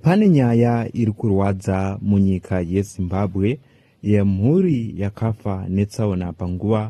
Pane nyaya iri kurwadza munyika yeZimbabwe yemhuri yakafa netsaona panguva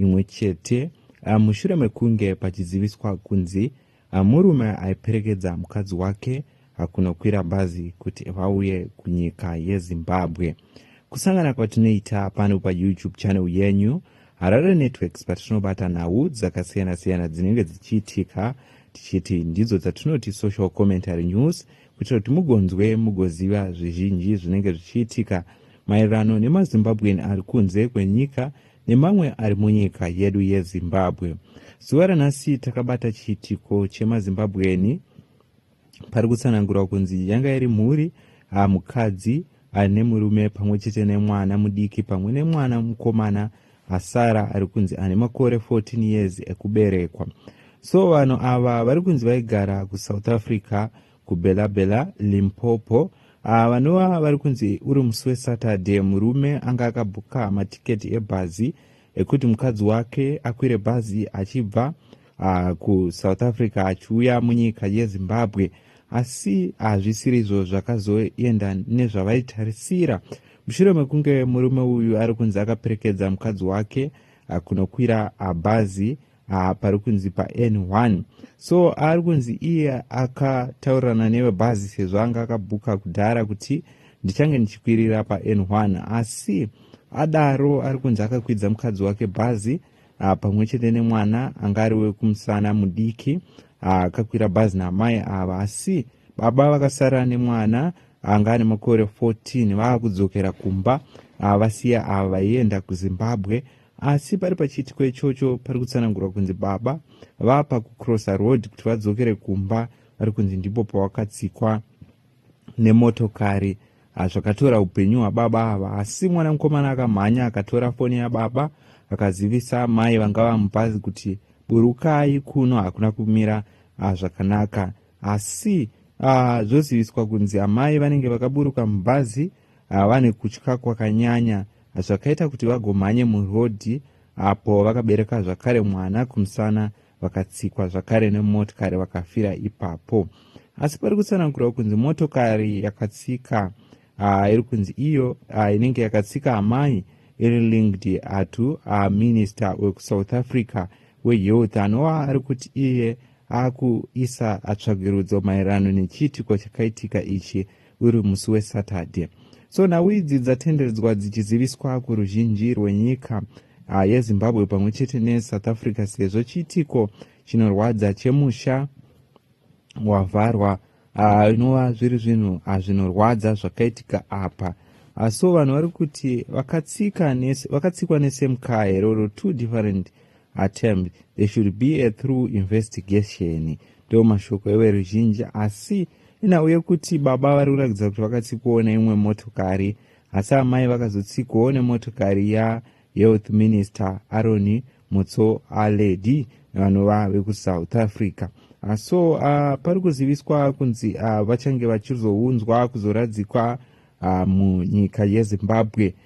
imwe chete ah, mushure mekunge pachiziviswa kunzi ah, murume aiperekedza mukadzi wake ah, kunokwira bhazi kuti vauye kunyika yeZimbabwe. Kusangana kwatinoita pano paYouTube channel yenyu Harare Networks patinobata nhau dzakasiyana-siyana dzinenge dzichiitika tichiti ndidzo dzatinoti social commentary news kuitira kuti mugonzwe mugoziva zvizhinji zvinenge zvichiitika maererano nemazimbabwean ari kunze kwenyika nemamwe ari munyika yedu yezimbabwe zuva ranhasi takabata chiitiko chemazimbabweani pari kutsanangurwa kunzi yanga iri mhuri hamukadzi ah, aine murume pamwe chete nemwana mudiki pamwe nemwana mukomana asara ari kunzi ane makore 14 years ekuberekwa so vanhu ava vari kunzi vaigara kusouth africa kubela bela limpopo ah, vanova vari kunzi uri musi wesaturday murume anga akabhuka matiketi ebhazi ekuti mukadzi wake akwire bhazi achibva uh, kusouth africa achiuya munyika yezimbabwe asi hazvisiri izvo zvakazoenda nezvavaitarisira mushure mekunge murume uyu ari kunzi akaperekedza mukadzi wake ah, kunokwira ah, bhazi haa pari kunzi pan1 so ari kunzi iye akataurirana nevebhazi sezvo anga akabhuka kudhara kuti ndichange ndichikwirira pan1 asi adaro ari kunzi akakwidza mukadzi wake bhazi ah, pamwe chete nemwana anga ari wekumusana mudiki ah, akakwira bhazi naamai ava asi baba vakasara nemwana anga ane makore 14 vaakudzokera kumba ah, vasiya ava vaienda kuzimbabwe Asi pari pachiitiko ichocho pari kutsanangurwa kunzi baba vapa kucrossa road kuti vadzokere kumba vari kunzi ndipo pawakatsikwa nemotokari ah, zvakatora upenyu hwababa ava asi mwana mukomana akamhanya akatora foni yababa akazivisa mai vanga vamupazi kuti burukai kuno hakuna kumira ah, zvakanaka asi ah, zvoziviswa kunzi amai vanenge vakaburuka mubhazi ava vane kutya kwakanyanya zvakaita kuti vagomhanye murodhi apo vakabereka zvakare mwana kumusana vakatsikwa zvakare nemotikari vakafira ipapo asi pari kutsanangurwa kunzi motokari yakatsika uh, iri kunzi iyo uh, inenge yakatsika amai iri linked atu uh, minister wekusouth africa wehealth anova ari kuti iye akuisa tsvagirudzo maererano nechiitiko chakaitika ichi uri musi wesaturday so nhau idzi dzatenderedzwa dzichiziviswa kuruzhinji rwenyika ah, yezimbabwe pamwe chete nesouth africa sezvo chiitiko chinorwadza chemusha wavharwa ah, inova uh, zviri zvinhu ah, zvinorwadza zvakaitika apa uh, so vanhu vari kuti vakatsikwa nesame car here or two different attempt there should be a through investigation ndo mashoko everuzhinji asi inhau yekuti baba vari kuratidza kuti vakatsikowo neimwe motokari asi amai vakazotsikowo nemotokari yahealth minister aroni mutso aledi vanova vekusouth africa ah, so uh, pari kuziviswa kunzi uh, vachange vachizounzwa kuzoradzikwa uh, munyika yezimbabwe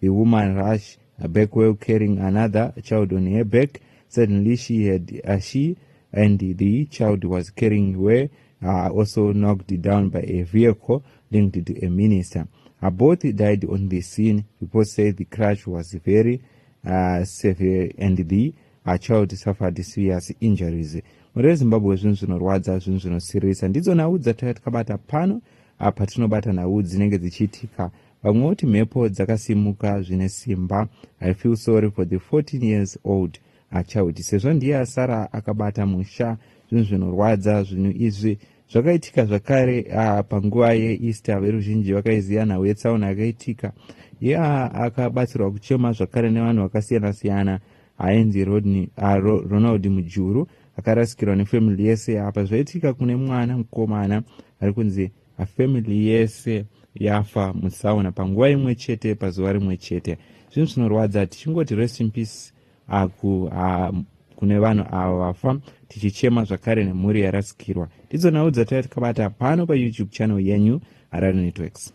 The woman rush back while carrying another child on her back. Suddenly she had uh, she and the child was carrying were uh, also knocked down by a vehicle linked to a minister. Uh, both died on the scene. Reports say the crash was very uh, severe and the uh, child suffered serious injuries. Mhuri yeZimbabwe zvinhu zvinorwadza, zvinhu zvinosirisa. Ndidzo nhau dzatauya tikabata pano uh, patinobata nhau dzinenge dzichiitika Vamwe voti mhepo dzakasimuka zvine simba. I feel sorry for the 14 years old achild sezvo ndiye asara akabata musha. Zvinhu zvinorwadza zvinhu izvi. Zvakaitika zvakare uh, panguva yeEaster veruzhinji vakaiziva nhau yetsaona yakaitika. Iye uh, akabatsirwa kuchema zvakare nevanhu vakasiyana-siyana ainzi Rodney, uh, Ro, Ronald Mujuru akarasikirwa nefamily yese apa zvaitika kune mwana mukomana ari kunzi family yese yafa mutsaona panguva imwe chete pazuva rimwe chete zvinhu zvinorwadza tichingoti rest in peace aku ha, kune vanhu ava vafa tichichema zvakare nemhuri yarasikirwa ndidzo nhau dzataiva tikabata pano payoutube channel yenyu harare networks